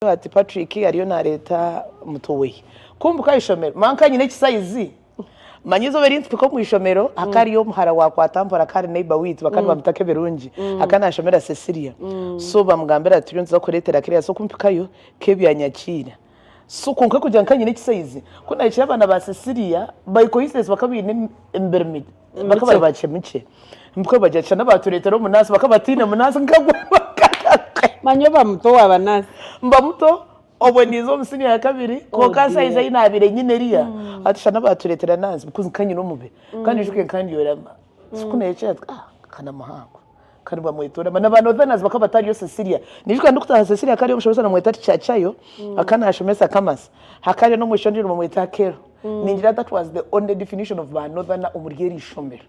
Hariho ati Patrick ariyo nareeta muto we kumpika aha ishomero manka nyine ekisaizi manya eizoba erintupika omu ishomero haka hariyo omuhara wakwata mpora akaba ari neighbor witu bakaba nibamutaka ebirungi akaba nashomera Cecilia so bamugambira ati turiyo nituza kureetera Claire so kumpikayo Kevy anyakiira so kwonka kugira ngu nkaba nyine ekisaizi ku nahikire abaana ba Cecilia by coincidence bakaba baine emibiri mibi. bakaba bari bakye mukye bakaba bagira nti shana baatureetera omunaasi bakaba bataine munaasi nkagwe manya oba muto owaabanasi mba muto obwe ninza omu siniya ya kabiri oh, kwonka saizi ei naabaire nyine eriya mm. ati shana baatureetera naasi bikozi nkanyine omubiri mm. kandi ojuke nkandyora sikuneekyera ah, kana muhango kandi bamwetorama na ba northerners bakaba batariyo Cecilia nijuka ndikutaha Cecilia akaba ari omushomesa namweta tichachayo mm. aka nashomesa kamasa hakariyo nomwishiki ondijo nibamweta akero mm. ningira that was the only definition of ba northerner omuri eri ishomero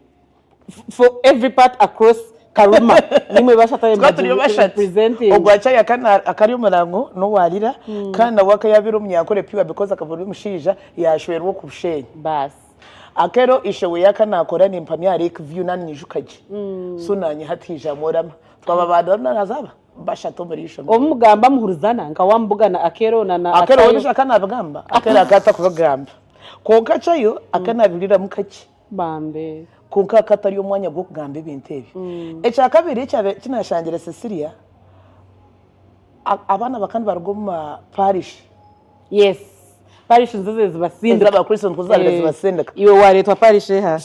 for every part across karuma nimwe bashatayembagirepresenting ogwachayo akari omurango nowalira mm. kandi nawe akayabira omunyankore piwa because akaba ori omushaija yashwerwa oku bushenyi basi Akero ishe we yaka nakora nimpamya aha lake view nani nyijuka gye so nanye hati hija mworama twaba abantu bari nana zaba bashatu omuri ishomero. Obu mugamba muhurizana nka wa mubuga na Akero na na Akero we Acayo. nisho aka nabigamba Akero aka atakubigamba kwonka Acayo aka nabihuriramu kakye Bambi. kwonka aka tari omwanya gwokugamba ebintu ebyo. Ekya kabiri ekyabe eki nashangire Cecilia a- abaana baka nibaruga omu ma parish Yes. Parish nizo ziri zibasindika. Ez'abakristo nikwo zaabire Eh, zibasindika. Iwe waareetwa parish eha?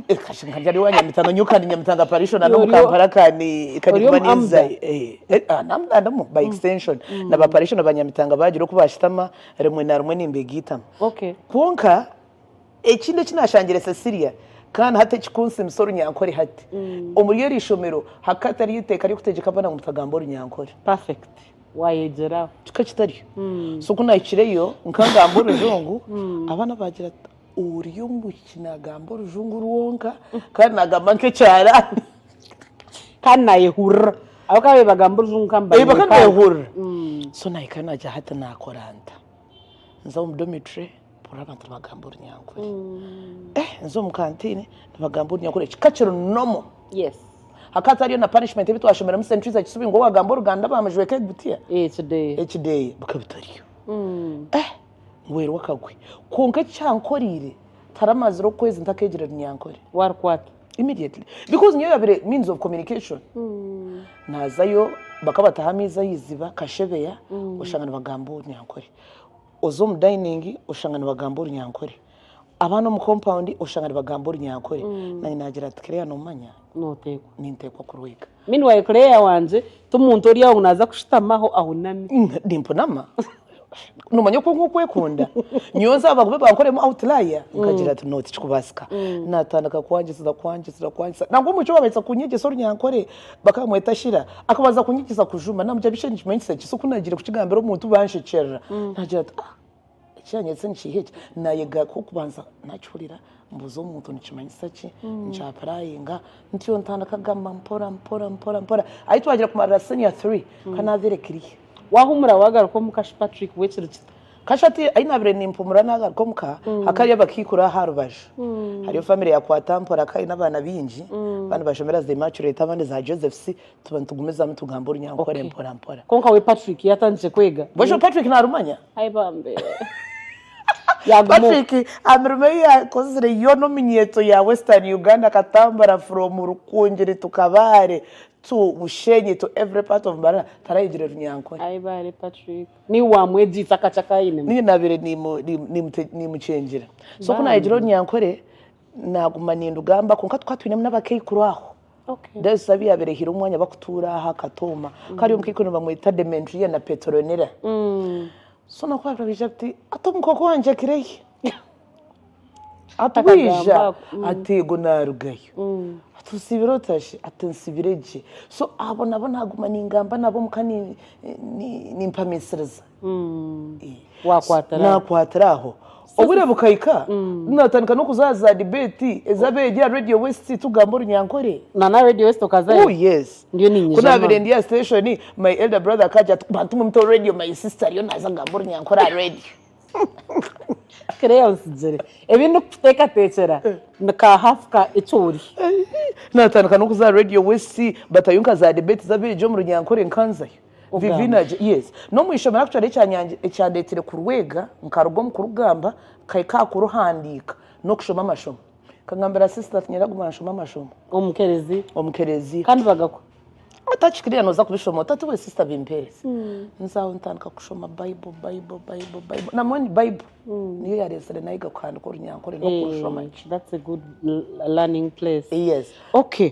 Eh, kashe nkarya ari wa Nyamitano nyowe kandi Nyamitanga parish ona Iwe n'omu ori o- Kampala kandi kandi ori omu kuba ninza Amda? eh, eh, ah, nam- ah, ndamu by extension na ba parish na ba Nyamitanga baagira oku baashitama rimwe na rimwe nimbeegaitamu Okay. kwonka ekindi eki naashangire Cecilia kandi hati ekikunsiimisa orunyankore hati omuri eri ishomero hakaba hatariyo eiteeka ry'okutegyeka abaana ngu mutagamba orunyankore Perfect. Wayegyera. Kika kitaryo. So ku naahikireyo, nkagamba orujungu, abaana baagira ati, Ori omwishiki naagamba orujungu rwonka, kandi naagamba nk'ekyaraani. Kandi naayehurira. Ahabw'okuba baagamba orujungu nka Ei, bakaba nibeehurira. So naahika naagya hati naakora nta? Nza omu dormitory? Mpurira abantu nibagamba orunyankore. Eh, nza omu kantiini nibagamba orunyankore kika kiri normal. Yes. Hakaba hatariyo na punishment ebi twashomeremu St. Teresa Kisubi ngu owaagamba oruganda baamujweka egutiya. Ekideeya. Ekideeya bikaba bitariyo. Eh, ngwerwe akagwe. Kwonka eki kyankoreire, taramazire okwezi ntakeegire runyankore. Waarukwata? Immediately. Because niyo yabaire means of communication. Naazayo, bakaba bataho amaizi aha iziba, kashebeya, oshanga nibagamba orunyankore. Oza omu dayiningi oshanga nibagamba orunyankore, abaana omu kompawundi oshanga nibagamba orunyankore. Nanye naagira ati, Claire noomanya? Nooteekwa. Ninteekwa kurwega. Meanwhile Claire wangye ti muntu ori aho ngu naaza kushutamaho ahuname. Nimpunama. Noomanya okwo nk'okwekunda. Nyowe nza bagube bankoremu awutilaya. Nkagira nti, no tikikubaasika. Naatandika kwangyesiza kwangyesiza kwangyesiza. Nangwa omwishiki we baabaasa kunyegyesa orunyankore. Bakamweta Shira. Akabanza kunyigiza kujuma. Namugira bikye nikimanyisa ki? So ku nagiire kukigambira omuntu banshekyerera. Nagira ati, ah eki yanyetsa ni kiiha eki? Nayega ku okubanza nakihurira mbuuza omuntu nikimanyisa ki? Nkyapurayinga. Ntyo ntandika kugamba mpora mpora mpora mpora. Ahi twagira kumarira senior three, nkaanaabeire kiriya. Waahumura waagaruka omuka shi Patrick, bwekirigita? Kashatu ahi naabire nimpumura naagaruka omu ka, hakaba hariyo abakaikuru aha rubaju. Hariyo famire ya Kwatampora akaba aine abaana baingi, abandi nibashomera za Immaculate abandi za Joseph's, tuba nitugumizamu tugamba orunyankore mporampora. Kwonka we Patrick yaatandikire kwega? Bw'eshusha Patrick naarumanya? Ai bambi. Yaaguma oku. Patrick aha mirimo ei yaakozire yoona omu nyeeto ya Western Uganda akatambura from Rukungiri to Kabale to Bushenyi to every part of Mbarara, tarayegire Runyankore. Ai baare Patrick. Naiwe waamwegyeise akakye aku ainemu? Nyowe naabaire niimukyengyera. So ku naayegire orunyankore, naaguma nindugamba kwonka tukaba twinemu n'abakaikuru aho. Then busabe abu yaabaire ehaire omwanya bakutuura aha katooma. Hakaba hariyo omukaikuru nibamweta Demetria na Petronella. So nabo ku baabaire nibaija buti, Hati omukooko wangye akirehi? Atwija ati ego naarugayo. Ati osiibire ota shi? Ati nsiibire gye. So abo nabo naaguma ningamba nabo omuka nimpamiisiriza. Naakwatira aho. Obwire bukahika naatandika n'okuza aha za dibeeti ez'abeegi aha Radio West tugamba orunyankore. Na n'aha Radio West okazayo? Ooh yes. Ndiyo niinyija. Ku naabaire ndi aha siteeshoni my elder brother akaagira ati bantu mwe mutaho radio my sister ariyo naaza kugamba orunyankore aha radio. Claire otsigire. Ebi ndikukuteekateekyera ni ka hafu ka Ecoori. Naatandika n'okuza aha Radio West batayo nka za debate z'abeegi omu Runyankore nkanzayo. Vivi Ogamba. nagye- Yes. N'omu ishomero actually ekyanyangye- ekyandeeteire kurwega nkaruga omu kurugamba nkahika aha kuruhandiika n'okushoma amashomo. Nkagambira sister ati nyaraguma nshome amashomo. Omu kerezia. Omu kerezia. Kandi bagakwa. Otakikiriire noza kubishoma ota ati we sister bimpere. Nza aho ntandika kushoma bible bible bible bible na moni bible niyo yaretsire nayega kuhandika orunyankore nokurushoma gye. That's a good learning place. Yes. Okay.